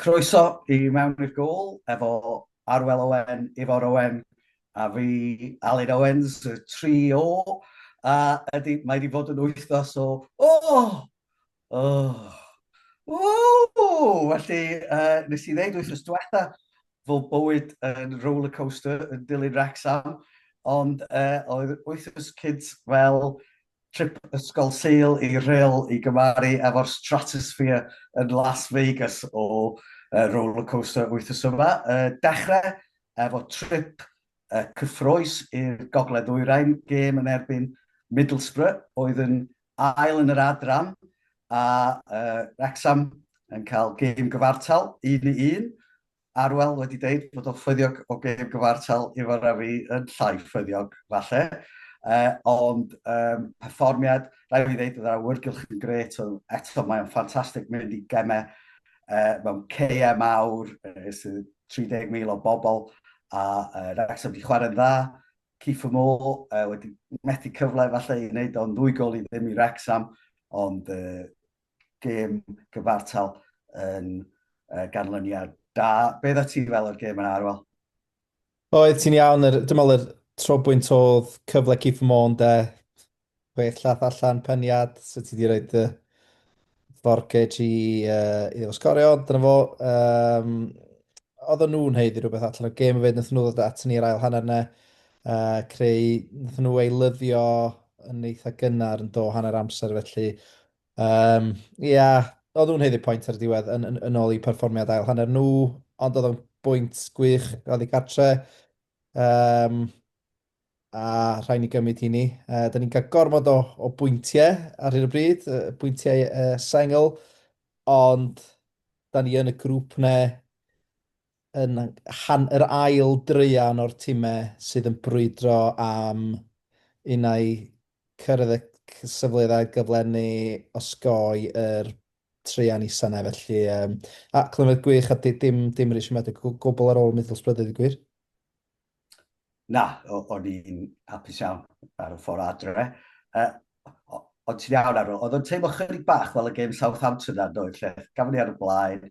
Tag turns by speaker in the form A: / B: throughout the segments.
A: Croeso i mewn i'r gôl efo Arwel Owen, Ifor Owen a fi, Aled Owens, y tri O. A ydy, mae wedi bod yn wythnos o O! O! Ww! Felly, uh, nes i ddeud wythnos diwetha fod bywyd yn rollercoaster yn dilyn Wrexham, ond uh, oedd wythnos cynt fel Trip ysgol Sul i Rhyl i gymharu efo'r Stratosphere yn Las Vegas o Roller Coaster wythnos yma. Dechrau efo trip cyffrous i'r Gogledd Ddwyrain, gêm yn erbyn Middlesbrough oedd yn ail yn yr adran a Wrecsam yn cael gêm gyfartal un i un. Arwel wedi deud bod o'n ffyddiog o gêm gyfartal Ifor a fi yn llai ffyddiog, falle. Uh, ond um, perfformiad, rhaid i ddeud, oedd yr awyrgylch yn gret, oedd eto mae'n ffantastig mynd i gemau uh, mewn ceau mawr, uh, sydd 30,000 o bobl, a uh, Wrexham wedi chwarae'n dda. Keith Moore uh, wedi methu cyfle falle i wneud o'n ddwy gol i ddim i Wrexham, ond uh, gêm gyfartal yn uh, ganlyniad da. Be dda ti fel o'r gêm yna, Arwel? Oedd
B: ti'n iawn, er, dim ond yr trobwynt oedd cyfle Keith Moore, de, chwech llath allan peniad, so ti wedi rhoi uh, forgage i, uh, i efo sgorio, dyna fo. Um, oedd o'n nhw'n heiddi rhywbeth allan o'r gêm fyd, nath nhw ddod at ni'r ail hanner yna, uh, creu, nath nhw ei lyddio yn eitha gynnar yn do hanner amser, felly Um, ia, oedd nhw'n heiddi pwynt ar y diwedd yn, yn, yn ôl i perfformiad ail hanner nhw, ond oedd o'n bwynt gwych oedd i gartre. Um, a rhaid ni gymryd hini. Uh, da ni'n cael gormod o, o bwyntiau ar hyn o bryd, uh, bwyntiau uh, sengl, ond da ni yn y grŵp ne yn rhan yr ail draean o'r timau sydd yn brwydro am unai cyrraedd y cyfleoedd a gyflenwi osgoi yr traean isa 'na felly yym a clyfrau gwych a di- dim dim rhy siomedig o gwbl ar ôl Middlesbrough a deud y gwir.
A: Na, o'n i'n hapus iawn ar y ffordd adre. Ond ti'n iawn Aaron, oedd o'n teimlo chydig bach fel y gêm Southampton 'na yn doedd lle gafon ni ar y blaen,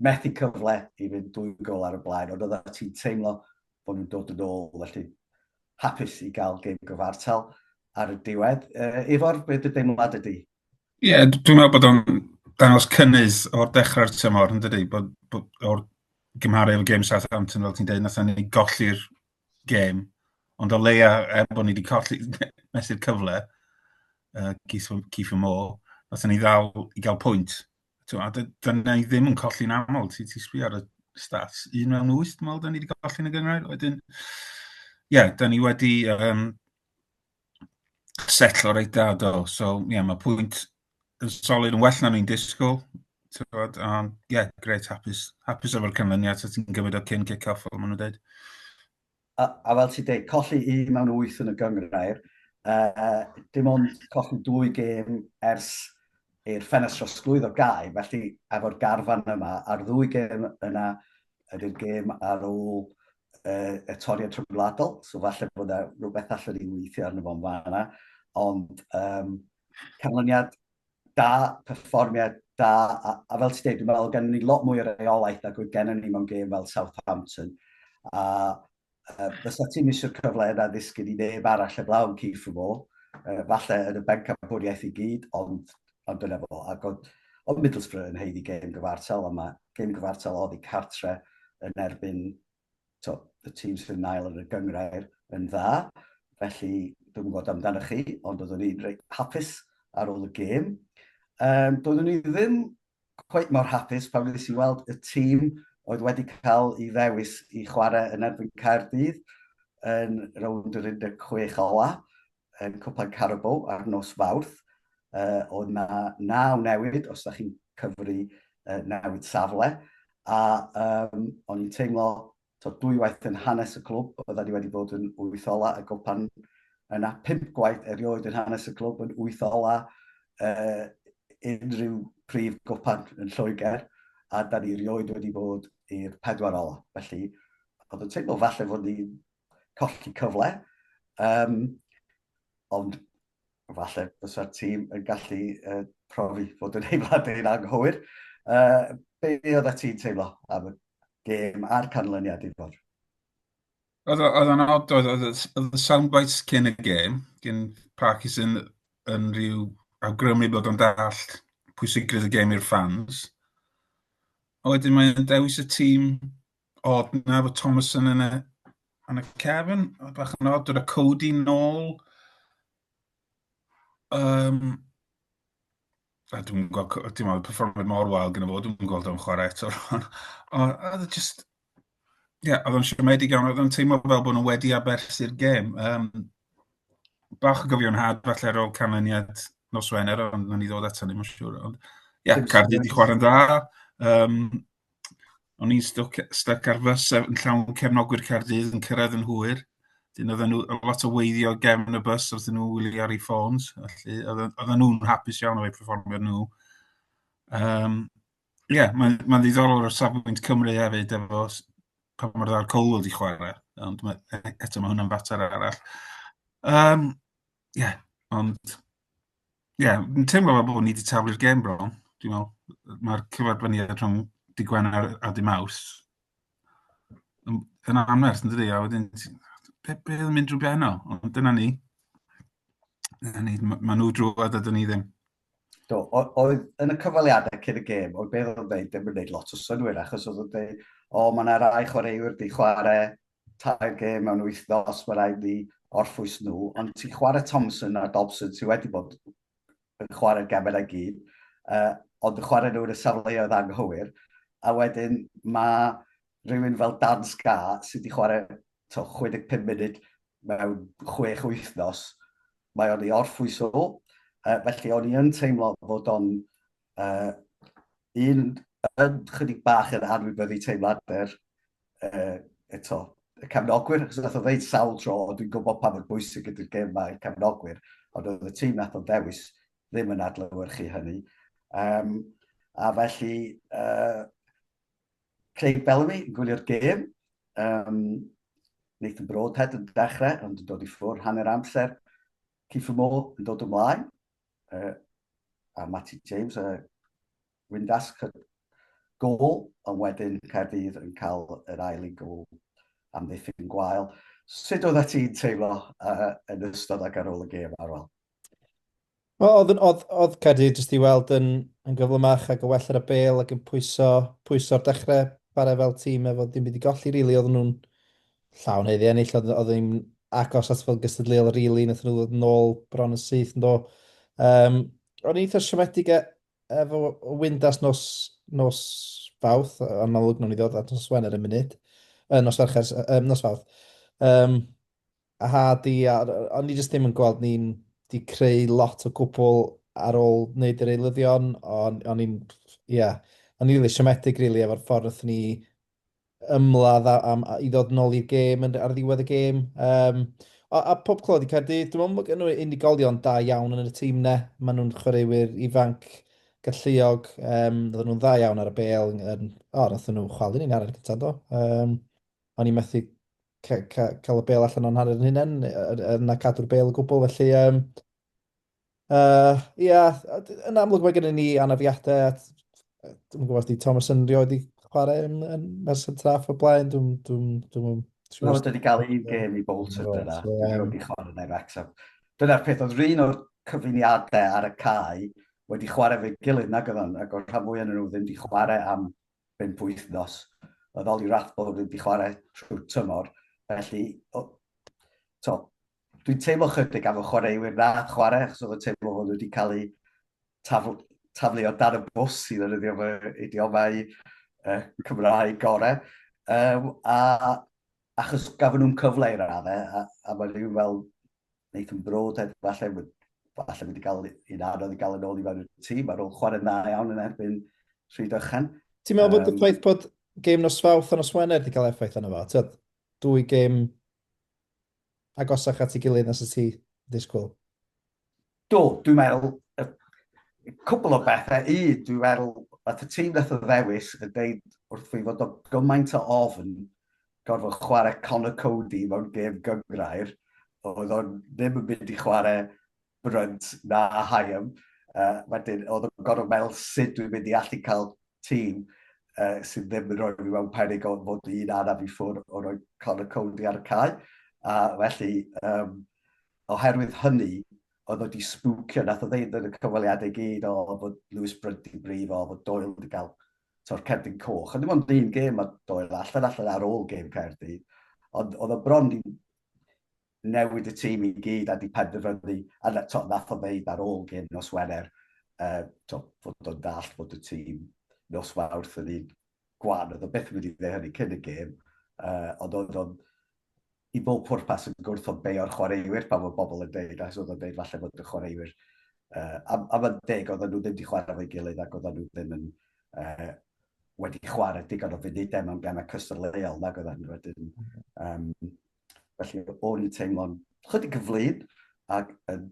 A: methu cyfle i fynd dwy gol ar y blaen, ond oedda ti'n teimlo bod nhw'n dod yn ôl, felly hapus i gael gêm gyfartal ar y diwedd. Uh, Ifor, beth dy deimlad ydy? Ie, yeah, dwi'n
C: meddwl bod o'n dangos cynnydd o'r dechrau'r tymor, yn dydy, bod, bod o'r gymharu efo gêm Southampton, fel ti'n dweud, nath ni golli'r gêm, ond o leia, er bod ni wedi colli mesur cyfle, uh, Keith, Keith Moore, nath ni ddal i gael pwynt, T'mo', a dy- dan ni ddim yn colli'n aml, ti ti sbio ar y stats, un mewn wyth dwi'n meddwl dan ni wedi golli yn y gynghrair, wedyn ie, yeah, dan ni wedi um, setlo reit dda do, so ie, yeah, mae pwynt yn solid yn well na ni'n disgwyl, tywed, a ie, yeah, gret, hapus, hapus efo'r canlyniad, so ti'n gymryd o cyn kick-off, fel maen nhw'n dweud. a,
A: a fel ti'n dweud, colli un mewn wyth yn y gyngrair, uh, dim ond colli dwy gêm ers i'r ffenest trosglwyddo gau, felly efo'r garfan yma, a'r ddwy gêm yna ydy'r gêm ar ôl uh, y toriad trybladol, so falle bod yna rhywbeth allan ni'n weithio arno fo'n fanna, ond um, canlyniad da, perfformiad da, a, a fel ti'n dweud, dwi'n meddwl gennym ni lot mwy o reolaeth nag oedd gennym ni mewn gêm fel Southampton. A uh, fysa ti'n misio'r cyfle yna ddisgyn i neb arall y blawn Keith Mo, uh, falle yn y bencampwriaeth i gyd, ond, ond dyna fo. Ac oedd, oedd Middlesbrough yn heiddi gêm gyfartal, ond mae gêm gyfartal oddi cartre yn erbyn to, y tîm sydd yn ail yn y gyngrair yn dda, felly dwi'n gwybod amdanoch chi, ond oeddwn ni'n reit hapus ar ôl y gêm. Um, doeddwn ni ddim cweit mor hapus pan wnes i weld y tîm oedd wedi cael ei ddewis i chwarae yn erbyn Caerdydd yn rownd yr 16 ola. yn Cwpan Carabao ar nos Fawrth, oedd 'na naw newid, os da chi'n cyfri newid safle, a o'n i'n teimlo tod dwy waith yn hanes y clwb, oedda ni wedi bod yn wyth ola y Gwpan yna, pump gwaith erioed yn hanes y clwb yn wyth ola unrhyw prif Gwpan yn Lloegr, a da ni erioed wedi bod i'r pedwar ola. Felly, oedd yn teimlo falle fod ni'n colli cyfle, um, ond falle bysa'r tîm yn gallu uh, profi fod yn ei wlad yn anghywir. Uh, be oedd y ti'n teimlo am y gêm a'r canlyniad i fod?
C: Oedd o'n od, oedd y soundbites cyn y gêm, gyn Parkinson yn rhyw awgrymu bod o'n dall pwysigrwydd y gêm i'r ffans. A wedyn mae'n dewis y tîm Odd na fod Thomason yn y yn y cefn, oedd bach yn odd, dyna Cody nôl. Um, a dwi'n gweld, dim ond perfformiad mor wael gyda fo, dwi'n gweld o'n chwarae eto rhan. Ond oedd e just, ie, yeah, oedd o'n siomedig iawn, oedd o'n teimlo fel bod nhw wedi aberthu'r gêm. Um, bach o gyfion had falle ar ôl canlyniad nos Wener, ond nhw'n i ddod ato ni, mae'n siŵr. Ond, ie, yeah, Cardi wedi chwarae'n dda. Um, o'n i'n stwc, stuck ar fus yn llawn cefnogwyr Caerdydd yn cyrraedd yn hwyr. Dyn oedd nhw lot o weiddio gefn y bus wrth nhw wylio ar ei ffôns. Felly, oedd nhw'n hapus iawn o'i performio nhw. Um, Ie, yeah, mae'n ma ddiddorol o'r safbwynt Cymru hefyd efo pa mor dda'r Colwood wedi chwarae, ond mae, e, eto mae hwnna'n fater arall. Um, Ie, ond... Ie, yn teimlo fel bod ni wedi taflu'r gêm bron, dwi'n meddwl. Mae'r cyfarfyniad rhwng dy Gwener a dy Maws yn, yn anferth yn dydi, a wedyn, be, be yn mynd drwy benno, ond dyna ni. Dyna ni, mae nhw drwad a dyna ni ddim. Do,
A: oedd yn y cyfaliadau cyn y gêm, oedd beth oedd dweud, ddim yn gwneud lot o synwyr, achos oedd yn dweud, o, mae yna rai chwaraewyr di chwarae tair gêm mewn wythnos, mae'n rhaid ni orffwys nhw, ond ti'n chwarae Thompson a Dobson sydd wedi bod yn chwarae'r gemau i gyd, uh, ond yn chwarae nhw yn y safleoedd anghywir, a wedyn mae rhywun fel Dan Sca sydd wedi chwarae to, 65 munud mewn 6 wythnos, mae o'n ei orffwys o, uh, felly o'n i yn teimlo fod o'n uh, un yn chydig bach yn anwybyddu teimladau'r uh, eto, y cefnogwyr, achos nath o ddeud sawl tro, ond dwi'n gwybod pa mor bwysig ydy'r gem mae i'r cefnogwyr, ond oedd y tîm nath o'n ddewis ddim yn adlywyrchu hynny. Um, a felly, uh, Craig Bellamy yn gwylio'r gem, um, Nathan Broadhead yn dechrau, ond yn dod i ffwrdd hanner amser, Keith Moore yn dod ymlaen, uh, a Matty James, uh, Windasg y gôl ond wedyn Caerdydd yn cael yr ail i gôl am ddiffyn gwael. Sut oeddet ti'n teimlo yn ystod ac ar ôl y gêm, Arwel? Oedd, oedd,
B: oedd Caerdydd jyst i weld yn, yn gyflymach ac yn well ar y bel ac yn pwyso, pwyso'r dechrau chwarae fel tîm efo ddim byd i golli rili really. oedd nhw'n llawn heddi ennill oedd, oedd ddim agos at fel gystadleuol rili really. nath nhw ddod nôl bron yn syth yn do um, o'n eitha siomedig a Efo Windas nos, nos Fawrth, yn amlwg nhw'n i ddod at nos Wener yn munud, uh, nos Fercher, uh, nos Fawrth. Um, a ha di, a, o'n i jyst ddim yn gweld ni'n di creu lot o gwbl ar ôl wneud yr eilyddion, o'n i'n, ie, yeah, o'n i'n really siomedig, really, efo'r ffordd wrth ni ymladd a, a, a i ddod yn ôl i'r gêm ar ddiwedd y gêm. Um, a, a pob clod i Caerdydd, dwi'n meddwl bod gen nhw unigolion da iawn yn y tîm ne. Maen nhw'n chwaraewyr ifanc, galluog, um, oedden nhw'n dda iawn ar y bel. Um, o, nath nhw chwalu ni'n arfer gyda do. Um, o'n i methu cael y bel allan o'n hanner yn hynny, yna cadw'r bel y gwbl, felly um, Uh, ia, yn amlwg mae gennym ni anafiadau at, dwi'n gwybod os di Thomas yn rioed i chwarae yn, yn Merson Traff o blaen, dwi'n... Dwi, dwi,
A: dwi, dwi, dwi wedi cael un gêm i Bolton dyna, dwi'n wedi chwarae neu Wrexham. Dyna'r peth, oedd rhan o'r cyfuniadau ar y cae wedi chwarae fe gilydd nag oedd o'n, ac o'r rhan fwy yn nhw ddim wedi chwarae am bimp wythnos. Oedd Oli Rathbone wedi chwarae trwy tymor, felly, to, dwi'n teimlo chydig am y chwaraewyr na chwarae, achos oedd y teimlo hwn wedi cael ei tafl, taflu o dan y bws i ddefnyddio fy idiomau uh, Cymraeg gorau. Um, a achos gafon nhw'n cyfle i raddau, a, a mae rhywun fel Nathan Broad, falle, falle wedi cael un anodd i gael yn ôl i fewn y tîm, ar ôl chwarae dda iawn yn erbyn Rhyd Ychan. Ti'n meddwl bod y
B: ffaith bod game nos fawth a nos wener wedi cael effaith yna fo? Tyd, dwy game agosach at ei gilydd
A: na sut
B: ti ddisgwyl? Do,
A: dwi'n meddwl, cwbl o bethe. Un, dwi'n meddwl, at y tîm wnaeth y ddewis yn deud wrth fi fod o gymaint o ofn gorfod chwarae Conor Coady mewn gêm gyngrair, oedd o'n ddim yn mynd i chwarae Brunt na Hyam. Uh, wedyn, oedd yn gorfod meddwl sut dwi'n mynd i allu cael tîm uh, sydd ddim yn rhoi fi mewn perig o'n fod un araf i ffwrdd o roi Conor Cody ar y cae. A felly, um, oherwydd hynny, oedd wedi sbwcio, nath o ddeud yn y cyfweliadau gyd o bod Lewis Brunt i brif o bod Doyle wedi cael to'r cerdyn coch. A dim ond un gêm mae Doyle allan allan ar ôl gêm cerdyn. Ond oedd o bron i newid y tîm i gyd a 'di penderfynu, a na- t'o' nath o ddeud ar ôl gêm nos Wener yym t'o' fod o'n dallt bod y tîm nos Fawrth yn un gwan, o'dd o byth yn mynd i ddeu hynny cyn y gêm yy ond o'dd o'n i bob pwrpas yn gwrthod beio'r chwaraewyr pan ma' bobol yn deud achos o'dd o'n deud falle bod y chwaraewyr yy a a ma'n deg oddan nhw ddim 'di chware 'fo'i gilydd ac oddan nhw ddim yn yy wedi chware digon o funude mewn geme cystadleuol nag oeddan nhw wedyn yym Felly, o'n i'n teimlo'n chydig yn flin ac yn,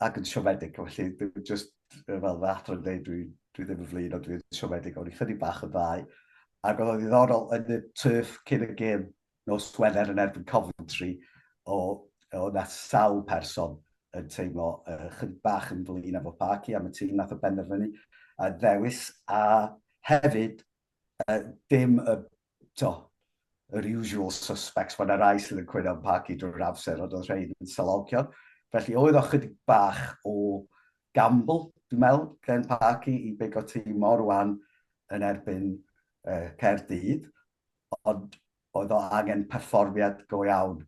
A: ac yn siomedig. Felly, dwi'n just, fel fy athro yn dweud, dwi, dwi ddim yn flin, ond dwi'n siomedig. O'n i'n chydig bach yn ddau. Ac oedd o'n ddiddorol yn y turf cyn y gêm nos Wener yn erbyn Coventry, o, o na sawl person yn teimlo uh, chydig bach yn flin efo Parky am y tîm nath o benderfynu a ddewis a hefyd uh, dim y to, yr usual suspects, mae yna rai sydd yn cwyno am Parky drwy'r amser, ond oedd rhai yn salogion. Felly oedd o chydig bach o gamble, dwi'n meddwl, gen Parky i beigo tîm mor wan yn erbyn uh, Caerdydd, ond oedd o angen perfformiad go iawn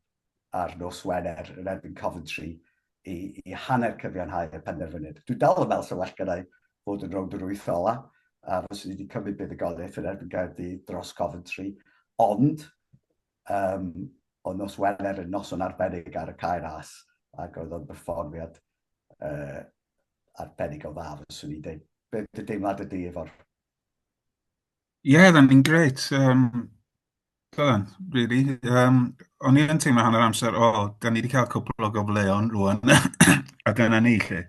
A: ar nos Wener yn erbyn Coventry i, i hanner cyfiawnhau y penderfyniad. Dwi dal yn meddwl sy'n well gyda'i fod yn rownd yr wyth ola, a fos ni wedi cymryd buddugoliaeth yn erbyn Gaerdydd dros Coventry, ond um, o nos Wener yn noson arbennig ar y cair as, ac oedd o'n berfformiad uh, arbennig o dda, fos ni'n dweud, beth y deimlad y di efo'r
C: Ie, oedd e'n un grêt. Yym, oedd e'n, rili. Yym, o'n i yn teimlo hanner amser, o, da ni wedi cael cwpl o gyfleon rŵan, a dyna ni 'lly.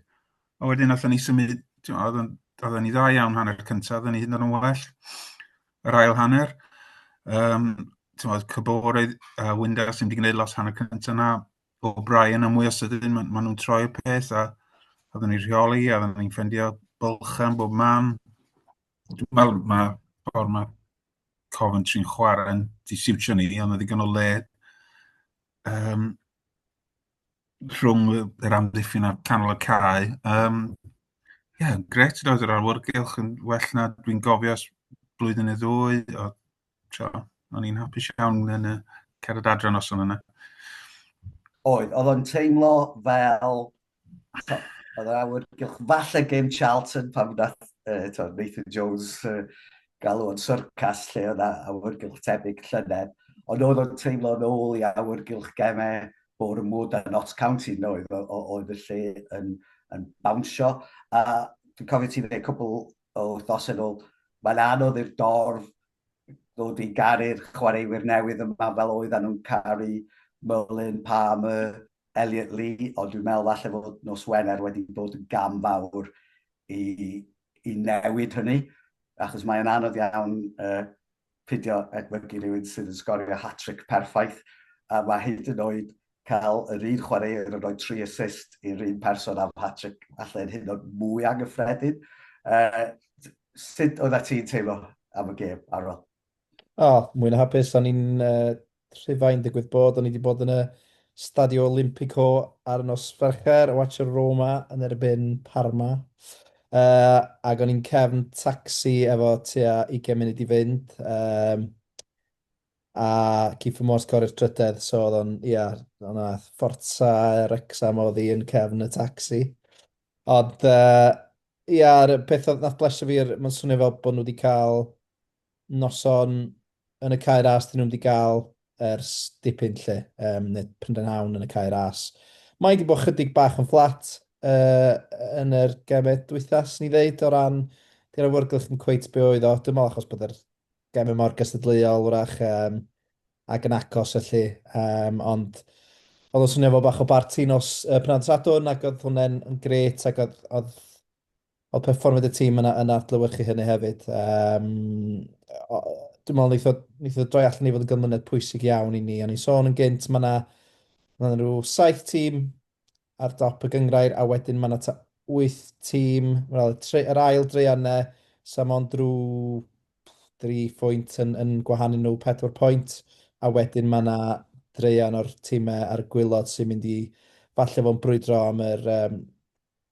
C: A wedyn nathon ni symud, timod, oedden oedden ni dda iawn hanner y cynta, oedden ni hyd yn oed yn well yr ail hanner. Yym, timod, Kabore a Windass ddim wedi gwneud lot hanner cynta 'na, O'Brien yn mwy o sydyn, ma' ma' nhw'n troi'r peth a oedden ni'n rheoli a oedden ni'n ffeindio bylchau yn bob man. Wel, mae ffordd mae Coventry'n chwarae'n disiwtio ni, ond mae ddigon o le um, rhwng yr amddiffyn a'r canol y cae. Um, Ie, yeah, gret i roed yr arwrgylch yn well na dwi'n gofio blwyddyn neu ddwy, o tro. O'n i'n hapus iawn yn y cerdd adre nos o'n yna.
A: Oedd, oedd o'n teimlo fel... oedd yr awyr gylch falle gêm Charlton pan wnaeth uh, to, Nathan Jones uh, galw o'n syrcas lle oedd awyr gylch tebyg llynedd. Ond oedd o'n teimlo yn ôl i awyr gylch gemau o'r mwd a Notts County oedd, oedd y lle yn, yn bawnsio. A dwi'n cofio ti fe cwbl o wythnos yn ôl. Mae'n anodd i'r dorf ddod i garu'r chwaraewyr newydd yma fel oeddan nhw'n caru Mullin, Palmer, Elliot Lee, ond dwi'n meddwl falle fod nos Wener wedi bod yn gam fawr i, i newid hynny, achos mae'n anodd iawn uh, peidio edmygu rhywun sydd yn sgorio hat-tric perffaith, a mae hyd yn oed cael yr un chwaraewr yn rhoi tri assist i'r un person am hat-tric falle yn hynod mwy anghyffredin. Uh, sut oedd ti'n teimlo am y gêm, Arwel? O, oh, mwyn
B: hapus, o'n i'n uh, Rhufain digwydd bod, o'n i wedi bod yn y Stadio Olimpico ar y nos Fercher, watch y Roma yn erbyn Parma. Uh, ac o'n i'n cefn taxi efo tua 20 munud i fynd. Um, a Keith Mors corri'r trydedd, so oedd o'n, ia, o'n Forza Rexham oedd i yn cefn y taxi. Ond, uh, ia, peth oedd nath blesio fi, mae'n swnio fel bod nhw wedi cael noson yn y Cae Ras dyn nhw'm di ga'l ers dipyn 'lly yym ne' pryndenhawn yn y Cae Ras. Mae 'di bo' chydig bach yn fflat yy yn yr geme dwytha swn i ddeud o ran di'r awyrgylch ddim cweit be' oedd o dwi me'wl achos bod yr geme mor gystadleuol 'w'rach yym ag yn agos felly yym ond o'dd o'n swnio fel bach o barti nos yy Pnawn Sadwrn ac o'dd hwnne'n yn grêt ac o'dd o'dd Wel, perfformiad y tîm yna yn adlewyrchu hynny hefyd. Um, o, dwi'n meddwl wnaeth o, wnaeth o droi allan i fod yn gymlynedd pwysig iawn i ni. O'n i'n sôn yn gynt, mae yna ma rhyw saith tîm ar dop y gyngrair, a wedyn mae yna ta wyth tîm, wel, y, yr ail dreian ne, so mae o'n drwy dri phwynt yn, yn gwahanu nhw pedwar pwynt, a wedyn mae yna dreian o'r tîmau a'r gwylod sy'n mynd i falle fo'n brwydro am yr um,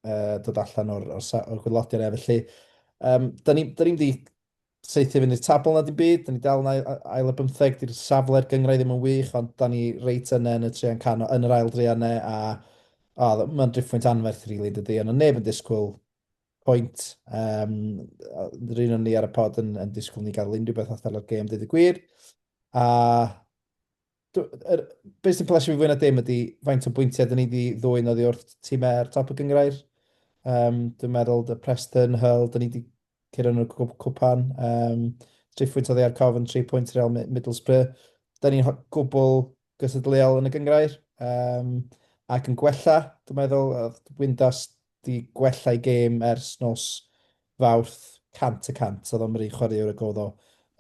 B: uh, dod allan o'r, or, or gwylodion e. Felly, um, da ni'n ni, ni seithi fynd i'r tabl na dim byd, da ni dal yn ail y bymtheg, di'r safle'r gyngrau ddim yn wych, ond da ni reit yna yn y trian cano, yn yr ail drian ne, a oh, mae'n driffwynt anferth rili, really, dydy, ond neb yn disgwyl pwynt. Um, Rhyn o'n ni ar y pod yn, yn disgwyl ni gael unrhyw beth allan o'r gêm, dweud y gwir. A Er, beth sy'n plesio fi fwy na dim ydy faint o bwyntiau dyn ni wedi ddwy'n oddi wrth tîm er top y gyngrair. Um, dwi'n meddwl dy Preston, Hull, dyn ni wedi cyrraedd yn y cwpan. Um, tri phwynt oddi ar Cofn, tri pwynt Real Middlesbrough. Dyn ni'n gwbl gysylltiol yn y gyngrair. Um, ac yn gwella, dwi'n meddwl, Windas 'di gwella'i gêm ers nos Fawrth 100 y cant. Oedd o'n ry chwaraewr ag oedd o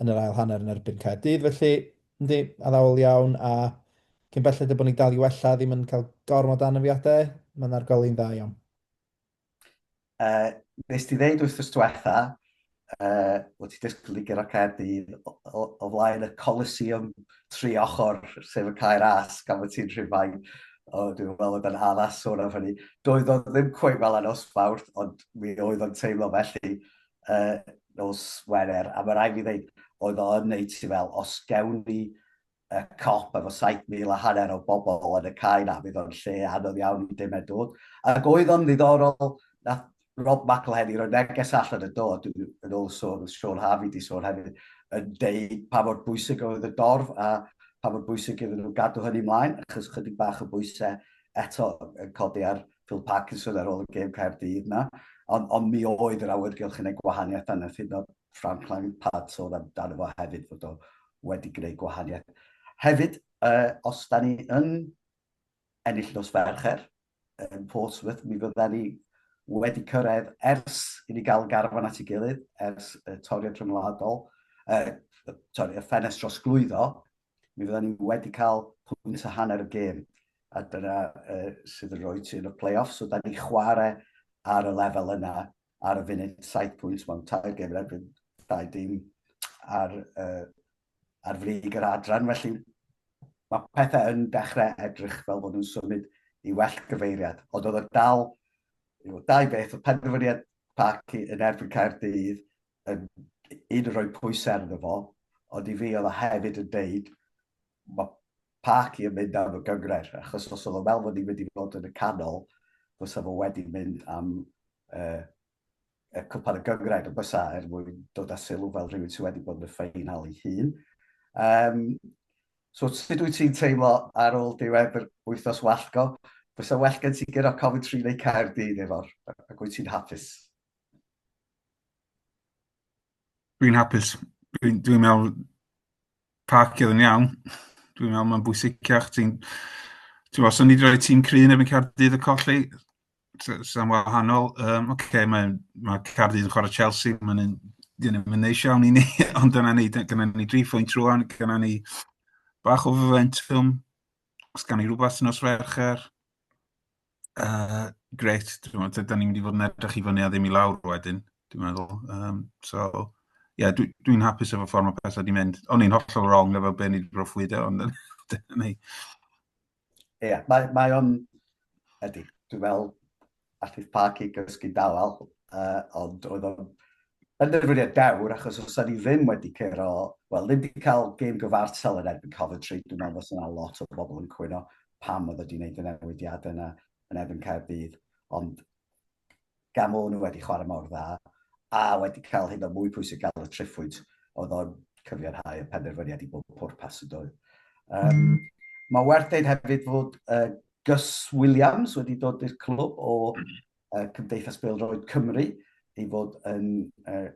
B: yn yr ail hanner yn erbyn Caerdydd felly, yndi, addawol iawn a cyn belled â bod ni'n dal i wella, ddim yn cael gormod o anafiadau, mae 'na'r goleu'n dda iawn. Yy,
A: nes ti ddeud wythnos diwetha', uh, wyt ti dysgu Ligger a Caerdydd o, o, o flaen y Coliseum tri ochr, sef y cair as, gan fod ti'n rhywfain, o, dwi'n meddwl bod yn addas sôn am hynny. Doedd o ddim cweith fel yna os fawr, ond mi oedd o'n teimlo felly uh, nos Wener, a mae rai fi ddeud, oedd o yn neud ti fel, os gewn ni y cop efo saith mil a hanner o bobl yn y cae 'na, fydd o'n lle anodd iawn i dim dod. Ac oedd o'n ddiddorol, nath Rob McElhenney roi neges allan yn do, yn ôl sôn, oedd Siôn Harvey 'di sôn hefyd, yn deud pa mor bwysig oedd y dorf a pa mor bwysig iddyn nhw gadw hynny mlaen, achos chydig bach o bwysau eto yn codi ar Phil Parkinson ar ôl y gêm Caerdydd 'na. Ond, ond mi oedd yr awyrgylch yn ei gwahaniaeth anodd hyd yn oed Frank Lampard sôn amdano fo hefyd fod o wedi gwneud gwahaniaeth. Hefyd, uh, os da ni yn ennill nos Fercher yn Portsmouth, mi fydda ni wedi cyrraedd ers i ni gael garfan at ei gilydd, ers uh, toriad rhyngwladol, uh, sorry, y ffenest dros glwyddo, mi fydda ni wedi cael pwynt a hanner y gêm. A dyna uh, sydd yn rhoi ti yn y play-off, so da ni chwarae ar y lefel yna ar y funud, 7 pwynt mewn tair gem erbyn dau dim ar, uh, ar frig yr adran. Felly mae pethau yn dechrau edrych fel bod nhw'n symud i well gyfeiriad. Ond oedd y dal, yw, dau beth, oedd penderfyniad Parc yn erbyn Caerdydd yn un yn rhoi pwysau arno fo, ond i fi oedd o hefyd yn deud Mae Parky yn mynd am y gyngred, achos os oedd o fel fod ni'n mynd i fod yn y canol, fysa fo wedi mynd am uh, y cwpan y gyngred, ond fysa er mwyn dod â sylw fel rhywun sydd wedi bod yn y ffeinal ei hun. Um, so, sut wyt ti'n teimlo ar ôl diwedd yr wythnos wallgo? Fysa well gen ti gyda Coventry neu Caerdydd efo'r, ac wyt ti'n hapus?
C: Dwi'n hapus. Dwi'n dwi meddwl parcio yn iawn. Dwi'n meddwl mae'n bwysicach. Ti'n... Ti'n gwybod, os o'n i 'di rhoi tîm cryf yn erbyn Caerdydd a colli, sa- sa'n wahanol. Yym, ocê, mae mae Caerdydd yn chwarae Chelsea, mae'n un... 'di hynny'm yn neis iawn i ni, ond dyna ni, d- gynna ni dri phwynt rŵan, gynna ni bach o fomentwm, os gawn ni rywbeth nos Fercher. Uh, grêt, dwi'n meddwl, dyda ni'n mynd i fod yn edrych i fyny a ddim i lawr wedyn, dwi'n meddwl. Um, so, ie, yeah, dwi'n dwi hapus efo ffordd mae pethau wedi mynd. O'n i'n hollol wrong efo be ni wedi broffwydo, ond dyna ni. Ie, yeah,
A: mae, mae o'n, ydy, dwi'n meddwl, allith Parky gysgu dawel, uh, ond oedd o'n penderfyniad dewr achos os da ni ddim wedi curo, wel ddim wedi cael gêm gyfartal yn erbyn Coventry, dwi'n meddwl fos yna lot o bobl yn cwyno pam oedd wedi gwneud y newidiad yna yn erbyn Caerdydd, ond gan o'n nhw wedi chwarae mor dda, a wedi cael hyn o mwy pwysig gael y triffwyd, oedd o'n cyfiawnhau y penderfyniad i bob pwrpas y dwy. Um, mae werth dweud hefyd fod uh, Gus Williams wedi dod i'r clwb o uh, Cymdeithas Beldroed Cymru i fod yn uh,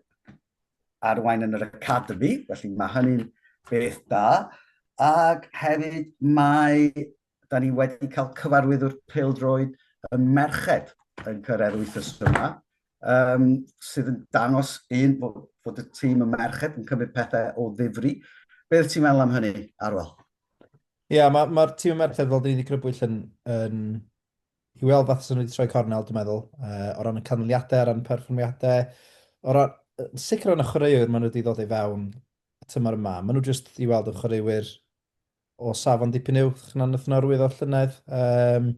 A: arwain yn yr academi, felly mae hynny'n beth da. Ac hefyd mae, da ni wedi cael cyfarwyddwr peldroed y merched yn cyrraedd wythnos yma, um, sydd yn dangos un fod, fod y tîm y merched yn cymryd pethau o ddifri. Beth ti'n meddwl am hynny, Arwel? Ie, yeah,
B: mae'r ma tîm y merched, fel dyn ni wedi crybwyll yn, yn I weld fath sy'n wedi troi cornel, dwi'n meddwl, uh, o ran y canlyniadau, o ran y perfformiadau, o ran, sicr o ran y chwaraewyr maen nhw wedi ddod i fewn y tymor yma. Maen nhw jyst i weld y chwaraewyr o safon dipyn uwch na'n y norwydd o'r llynedd. Um,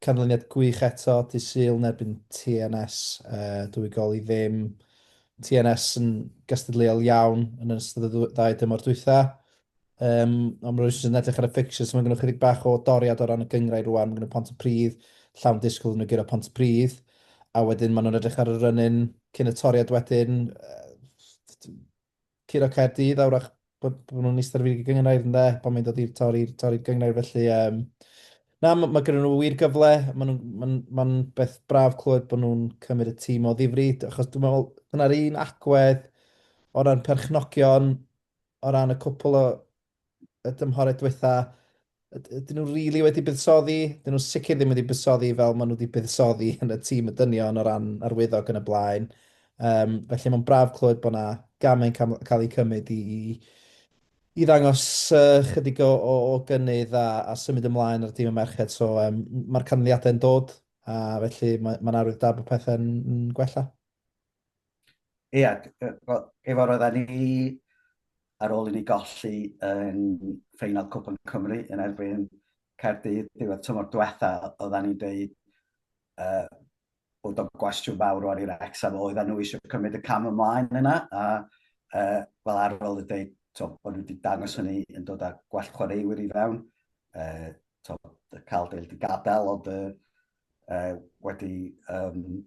B: canlyniad gwych eto, di syl yn erbyn TNS, uh, dwy gol i ddim. TNS yn gystadleuol iawn yn ystod y ddau dymor dwytha. Um, ond rwy'n sy'n edrych ar y fixtures, mae gennych chydig bach o doriad o ran y gyngrau rwan, mae gennych pont y pryd, llawn disgwyl yn y gyda pont y pryd, a wedyn maen nhw'n edrych ar y rynyn cyn y toriad wedyn, curo Caerdydd, awrach bod, bod nhw'n eistedd ar y gyngrau yn dde, pan mae'n dod i'r tori, tori'r gyngrau felly. Um, na, mae, mae gen nhw wir gyfle, mae'n ma ma beth braf clywed bod nhw'n cymryd y tîm o ddifri, achos dwi'n meddwl, dyna'r un agwedd o ran perchnogion, o ran y cwpl o y dymhorau diwetha, ydyn nhw rili wedi buddsoddi? Dyn nhw sicr ddim wedi buddsoddi fel maen nhw wedi buddsoddi yn y tîm y dynion o ran arwyddog yn y blaen. Um, felly mae'n braf clywed bod yna gamau'n cael eu cymryd i, i, i ddangos uh, chydig o, o, o gynnydd a, a symud ymlaen ar y tîm y merched. So um, mae'r canlyniadau'n dod a felly mae'n ma arwydd da bod pethau'n gwella.
A: Ia, efo roedda ni ar ôl i ni golli yn ffeinal Cwpan Cymru yn erbyn Caerdydd diwedd tymor diwetha, oedda ni'n dweud uh, bod o'n gwestiwn fawr o'r i'r Wrexham, oedda nhw eisiau cymryd y cam ymlaen yna, a uh, fel arol y dweud, to, bod nhw wedi dangos hynny yn dod â gwell chwaraewyr i fewn, uh, to, y cael deil wedi gadael, ond uh, uh, wedi um,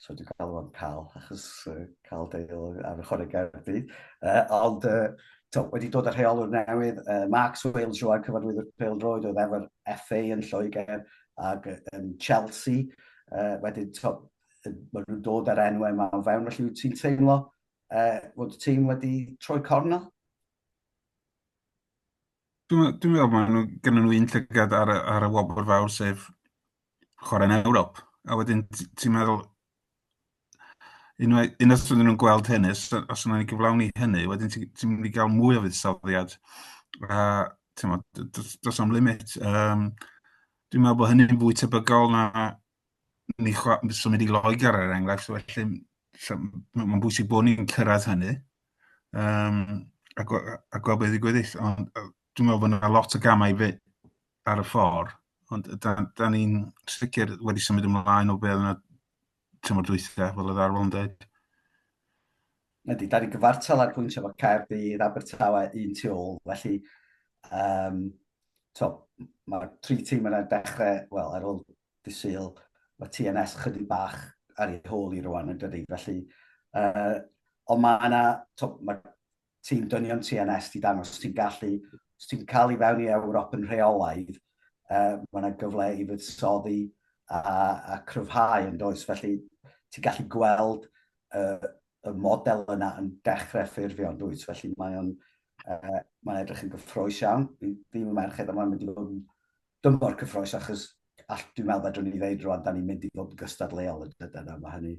A: so dwi'n cael o'n cael, achos uh, cael deil ar y chwarae gardi. Uh, ond uh, to, wedi dod â rheolwr newydd, uh, Mark Swales Joan, cyfarwyddwr Pêl Droed, oedd efo'r FA yn Lloegr ac yn Chelsea. Uh, wedyn, to, maen nhw'n dod ar enw yma o fewn, felly wyt ti'n teimlo uh, fod y tîm wedi troi cornel?
C: Dwi'n dwi'n meddwl maen nhw, gennyn nhw un llygad ar, y- ar y wobr fawr sef chwarae'n Ewrop. A wedyn t- ti'n meddwl, unwaith, unwaith oedden nhw'n gweld hynny, os, os yna ni gyflawni hynny, wedyn ti'n ti mynd i gael mwy o fuddsoddiad. A ti'n meddwl, d- d- does am limit. Um, dwi'n meddwl bod hynny'n fwy tebygol na ni so mynd i Loegr ar er enghraifft, felly mae'n bwysig bod ni'n cyrraedd hynny um, a, go, a gweld beth i gweddill. Ond dwi'n meddwl bod yna lot o gamau fe ar y ffordd, ond da, da ni'n sicr wedi symud ymlaen o beth yna tymor dwythau, fel y ddarfod yn dweud.
A: Ydy, da ni'n gyfartal ar pwynt efo Caerdydd, Abertawe, un tu ôl, felly um, to, mae tri tîm yna'n dechrau, wel, ar ôl disyl, mae TNS chydig bach ar ei hôl i rwan yn dydy, felly, uh, ond mae yna, to, mae tîm dynion TNS di dangos, ti'n gallu, os ti'n cael i fewn i Ewrop yn rheolaidd, uh, mae yna gyfle i fuddsoddi a, a cryfhau yn does, felly ti'n gallu gweld uh, y model yna yn dechrau ffurfio yn dwyt, felly mae o'n uh, mae'n edrych yn gyffroes iawn. Fi'n fi merched yma yn mynd i fod yn dymor cyffroes achos all, dwi'n meddwl fedrwn ni ddeud rwan, da ni'n mynd i fod yn gystadleol yn dydyn yna, mae hynny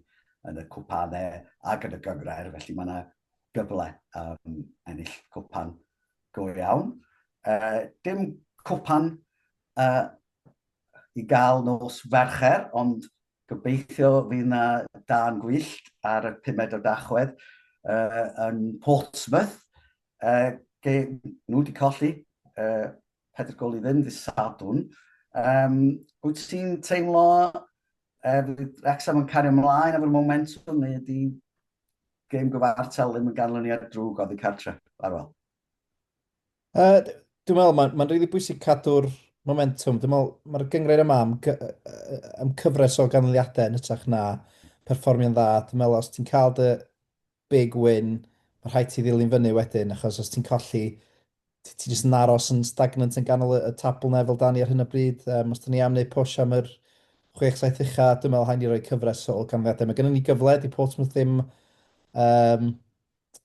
A: yn y cwpanau ac yn y gyngrair, felly mae yna gyfle um, ennill cwpan go iawn. Uh, dim cwpan uh, i gael nos fercher, ond Gobeithio fydd 'na dân gwyllt ar y pumed o Dachwedd yn Portsmouth. Ge, nhw wedi colli pedr gol i ddim ddydd Sadwrn. Um, wyt ti'n teimlo e, fydd Wrexham yn cario ymlaen efo'r momentum neu ydy gêm gyfartal ddim yn ganlyniad drwg oddi cartre? Arwel. Uh,
B: dwi'n meddwl, mae'n ma rili bwysig cadw'r momentum. Dwi'n meddwl, mae'r gyngrhaid yma am, am cyfres o ganlyniadau yn ytrach na perfformio'n dda. Dwi'n meddwl, os ti'n cael dy big win, mae rhaid ti ddilyn fyny wedyn, achos os ti'n colli, ti'n ti jyst yn aros yn stagnant yn ganol y, y tabl na fel dan ni ar hyn o bryd. Um, os da ni am wneud push am yr 6-7 ucha, dwi'n meddwl hain i roi cyfres o ganlyniadau. Mae gennym ni gyfle, di Portsmouth ddim um,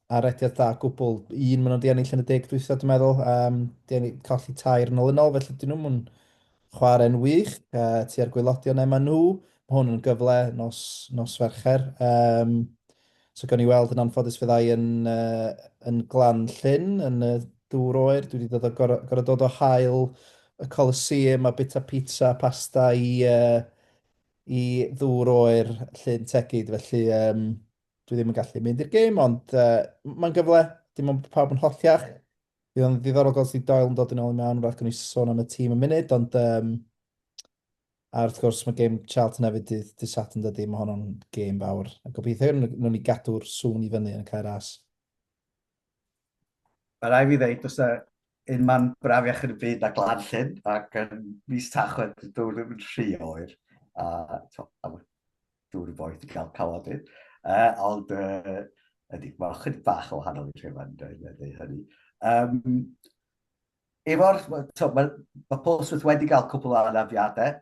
B: arediad da gwbl. Un maen nhw wedi ennill yn y deg dwytha, dwi'n meddwl. Um, di ennill colli tair yn ôl yn ôl, felly dyn nhw'n mwyn chwarae'n wych. Uh, ti ar gwylodion ema nhw. Mae hwn yn gyfle nos, nos fercher. Um, so gawn ni weld yn anffodus fyddai yn, uh, yn glan llyn, yn y dŵr oer. Dwi wedi dod o gorau, gorau dod o hael y Coliseum a bita pizza a pasta i, uh, i ddŵr oer llyn tegid. Felly, um, dwi ddim yn gallu mynd i'r gêm, ond uh, mae'n gyfle, dim ond pawb yn holltiach. Bydd o'n ddiddorol gael sy'n doel yn dod yn ôl i mewn, rhaid gwneud sôn am y tîm yn munud, ond um, a wrth gwrs mae gêm Charlton hefyd dydd, dydd sat yn dydy, mae honno'n gêm fawr. A gobeithio nhw'n ni gadw'r sŵn i fyny yn y cair as.
A: Mae rai fi ddeud, os da un man braf iach yn y byd a glan llyn, ac yn mis tachwedd, dwi'n ddim yn rhy oer. A, to, dŵr y boeth i gael cawod i. Uh, ond uh, ydy, mae'n chyd bach o wahanol i'r rhywun yn dweud hynny. Um, Efo'r, mae ma Polsmith wedi cael cwpl o anafiadau,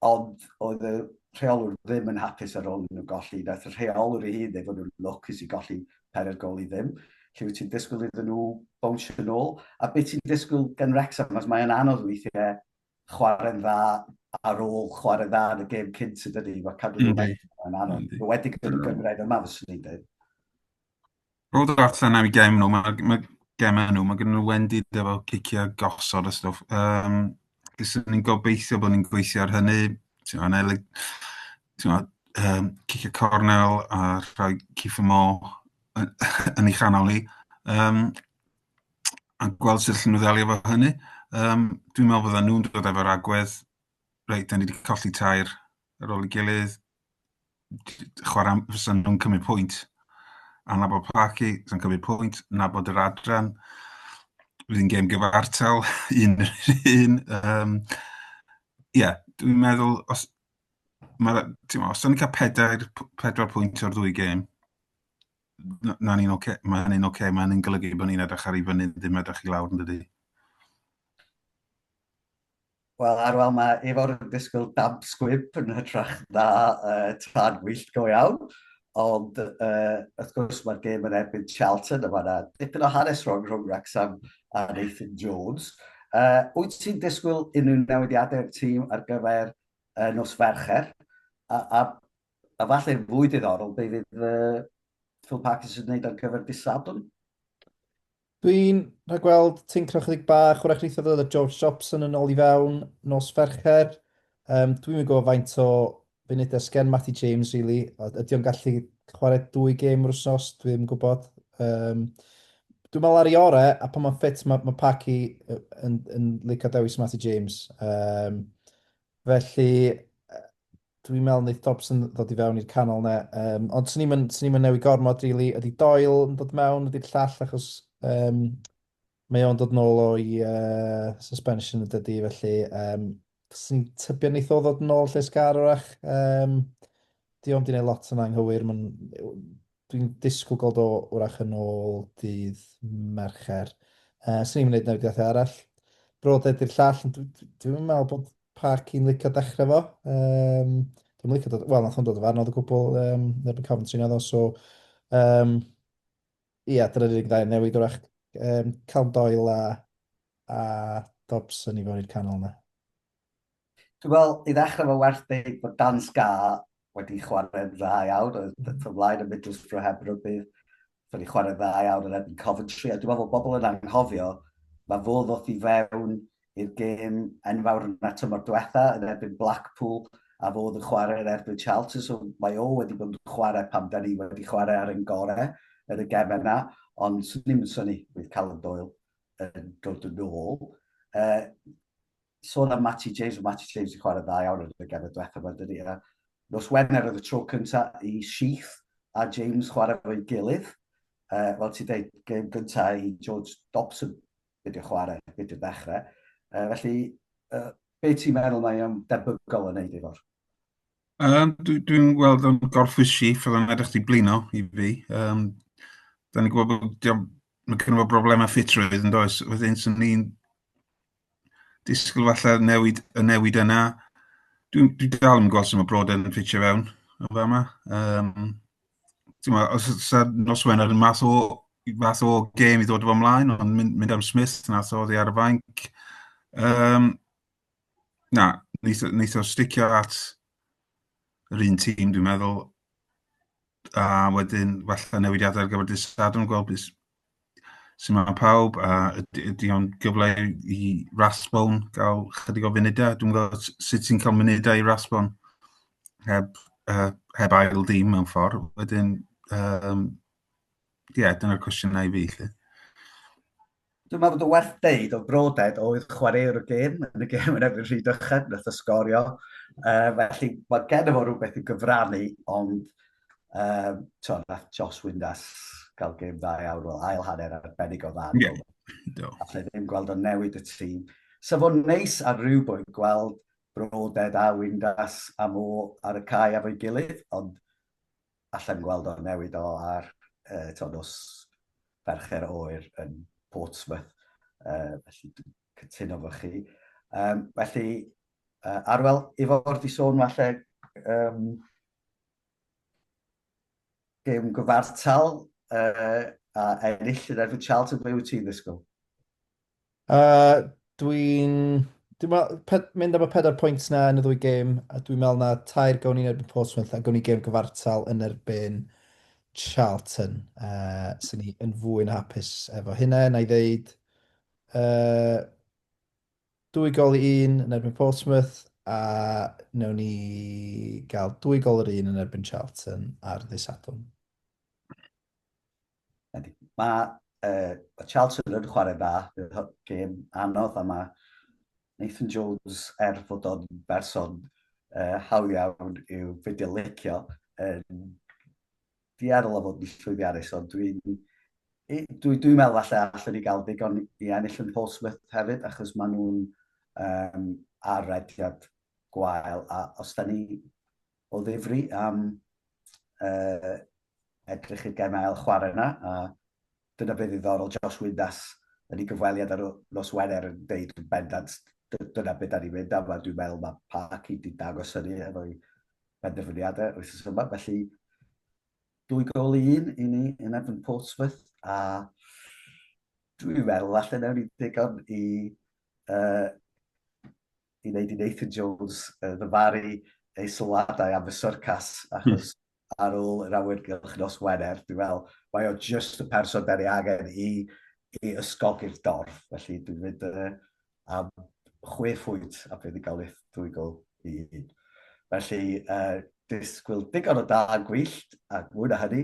A: ond oedd y rheolwr ddim yn hapus ar ôl nhw'n golli. Nath y rheolwr ei hun efo nhw'n lwcus i golli pen ar gol i ddim. Lle wyt ti'n disgwyl iddyn nhw bownsio yn ôl? A beth ti'n disgwyl gan Wrexham? Os mae'n anodd weithiau chwarae'n dda ar ôl chwarae dda yn y gêm cynt ydyn ni, mae cadw nhw'n dda yn anodd. Mae wedi gyda'r mm. gyngraen yma, fyswn i'n dweud.
C: Roedd yr allan am i gem nhw, mae ma gem nhw, mae gen nhw wendi efo cicio gosod y stwff. Um, Fyswn ni'n gobeithio bod ni'n gweithio ar hynny. Ti'n meddwl, neu, ti'n meddwl, um, cicio cornel a rhoi Kiefer Moore yn, yn ei chanol ni. Um, a gweld sut allan nhw ddelio efo hynny. Um, dwi'n meddwl bod nhw'n dod efo'r agwedd, reit, da ni wedi colli tair ar ôl i gilydd, chwarae, fysa nhw'n cymryd pwynt. A na bod Parky, sy'n cymryd pwynt, na bod yr adran, rydyn gêm gyfartal, un yr un. Um, yeah, dwi'n meddwl, os, ma, os da ni'n cael pedair, pedwar pwynt o'r ddwy gêm, na ni'n oce, okay. mae hynny'n oce, okay. mae hynny'n golygu bod ni'n edrych ar ei fyny, ddim edrych i lawr yn dydy.
A: Wel, Arwel, mae Efo'r yn disgwyl dab sgwib yn hytrach na uh, tân wyllt go iawn. Ond, uh, wrth gwrs, mae'r gêm yn erbyn Charlton, a mae yna dipyn o hanes rhwng rhwng Wrexham a Nathan Jones. Uh, wyt ti'n disgwyl unrhyw newidiadau i'r tîm ar gyfer uh, nos Fercher? A, a A falle fwy diddorol, be fydd uh, Phil Parkinson yn gwneud ar gyfer disadwn?
B: Dwi'n rhaid gweld tincro chydig bach, wrach neitha ddod o George Jobson yn ôl i fewn nos fercher. Um, dwi'n mynd gwybod faint o funudau sgen Matty James, really. Ydy o'n gallu chwarae dwy gêm yr wrsos, dwi ddim yn gwybod. Um, dwi'n meddwl ar i ore, a pan mae'n ffit, mae ma Paki yn, yn licio dewis Matty James. Um, Felly, dwi'n meddwl wneith Dobson ddod i fewn i'r canol yna. Um, ond swn i'n swn i'n newid gormod, really. Ydy Doyle yn dod mewn, ydy'r llall, achos um, mae o'n dod nôl o'i uh, suspension y dydy, felly um, swn i'n tybio wneith o ddod nôl lle sgar orach. Um, di o'n di wneud lot yn anghywir, mae'n Dwi'n disgwyl gweld o wrach yn ôl dydd Mercher. Uh, Swn i'n gwneud newidiadau arall. Brodau di'r llall, ond dwi'n dwi meddwl bod Park i'n licio dechrau fo. Um, dwi'n licio dod, wel, nath o'n dod o farnod o gwbl um, yn y Coventry naddo, so... Um, ia, yeah, dyna'r unig ddau newid wrach um, Calm Doyle a, a Dobson i fod i'r canol yna.
A: Dwi'n meddwl, i ddechrau fo werth dweud bod Dan Sca wedi chwarae'n dda iawn, oedd mm. fy mlaen yn Middlesbrough heb rybydd, wedi chwarae'n dda iawn yn ebyn Coventry, a dwi'n meddwl bod bobl yn anghofio, mae fo ddoth i fewn i'r gêm enfawr yn y tymor diwetha yn erbyn Blackpool, a fo oedd yn chwarae yn erbyn Chelsea, so mae o wedi bod yn chwarae pam da ni wedi chwarae ar ein gorau yn y gem yna, ond swn i'n syni bydd Callum Doyle yn dod yn ôl. Uh, sôn am Matty James, mae Matty James wedi chwarae dda iawn yn y gefyd diwethaf yma, dydy. A nos Wener oedd y tro cyntaf i Sheath a James chwarae fo'i gilydd. Uh, Wel, ti dweud, gêm gyntaf i George Dobson wedi chwarae, wedi ddechrau. Uh, felly, uh, be ti'n meddwl mae o'n debygol yn neud efo'r? Um,
C: Dwi'n dwi gweld o'n gorffwys Sheath, oedd o'n edrych di blino i fi. Um, da ni'n gwybod bod mae gen i broblemau ffitrwydd yn does. Wedyn, sy'n ni'n disgwyl falle newid, y newid yna. Dwi'n dwi dal yn gweld sy'n mae brod yn ffitio fewn o fa yma. Um, ma, os yna nos Wener yn math o, math o gêm i ddod o ymlaen, ond mynd, mynd am Smith nath oedd ar y fainc. Um, na, wnaeth o sticio at yr un tîm, dwi'n meddwl. A wedyn, falle newidiadau ar gyfer dydd Sadwrn, gweld beth, Symud pawb, a ydy, ydy o'n gyfle i Rathbone gael chydig o funudau? Dwi'n gwybod sut ti'n cael munudau i Rathbone heb, uh, heb ail ddim mewn ffordd. Wedyn, um, yeah, dyna'r cwestiynau i fi. Lle.
A: Dwi'n meddwl bod y werth deud o broded oedd chwaraewr y gêm, yn y gêm yn efo'r rhy dychan, nath o sgorio. Uh, felly, mae gen efo rhywbeth i gyfrannu, ond Um, to, nath Joss Windass gael gêm dda iawn, wel, ail hanner arbennig o dda. Yeah. Do. A lle ddim gweld o'n newid y tîm. Sa fo'n neis ar rhyw bwynt gweld Broded a Windass a Mo ar y cae efo'i gilydd, ond allan gweld o'n newid o ar uh, to nos fercher oer yn Portsmouth. Uh, felly dwi'n cytuno fo chi. Um, felly, uh, Arwel, i fod i sôn falle um, gêm gyfartal uh, a ennill yn erbyn Charlton, ble wyt ti'n ddisgwyl? Uh,
B: dwi'n... Dwi'n meddwl, mynd am y pedair pwynt na yn y ddwy gêm, a dwi'n meddwl na tair gawn ni'n erbyn Portsmouth a gawn ni gêm gyfartal yn erbyn Charlton. Uh, Swn ni yn fwy na hapus efo hynna, na i ddeud. Uh, Dwy gol i un yn erbyn Portsmouth a wnawn ni gael dwy gol yr un yn erbyn Charlton ar ddydd Sadwrn. Mae
A: uh, Charlton yn chwarae dda, bydd gêm anodd a mae Nathan Jones er fod o'n berson uh, hawdd iawn i'w fideo licio yn dueddol o fod yn llwyddiannus, ond dwi'n dwi, dwi, dwi meddwl falle allwn ni gael digon i ennill yn Portsmouth hefyd, achos maen nhw'n um, ar rediad gwael, a os da ni o ddifri am uh, edrych i'r gem ail chwarae yna, a Dyna beth ddiddorol, Josh Windass yn ei gyfweliad ar nos Wener yn deud yn bendant dyna beth dan ni'n mynd am a dwi'n meddwl mae Parky wedi dangos hynny efo'i penderfyniadau wythnos yma. Felly, dwy gol i un i ni yn erbyn Portsmouth a dwi'n meddwl falle newn ni ddigon i uh, i wneud i Nathan Jones uh, ddyfaru ei sylwadau am y syrcas, hmm. achos mm. ar ôl yr awyrgylch nos Wener, dwi'n fel, mae o just y person da ni angen i, i ysgogi'r dorf. Felly dwi'n mynd uh, am chwe phwynt a bydd i gael eich dwy gol i un. Felly, uh, disgwyl digon o da yn gwyllt, a mwy na hynny,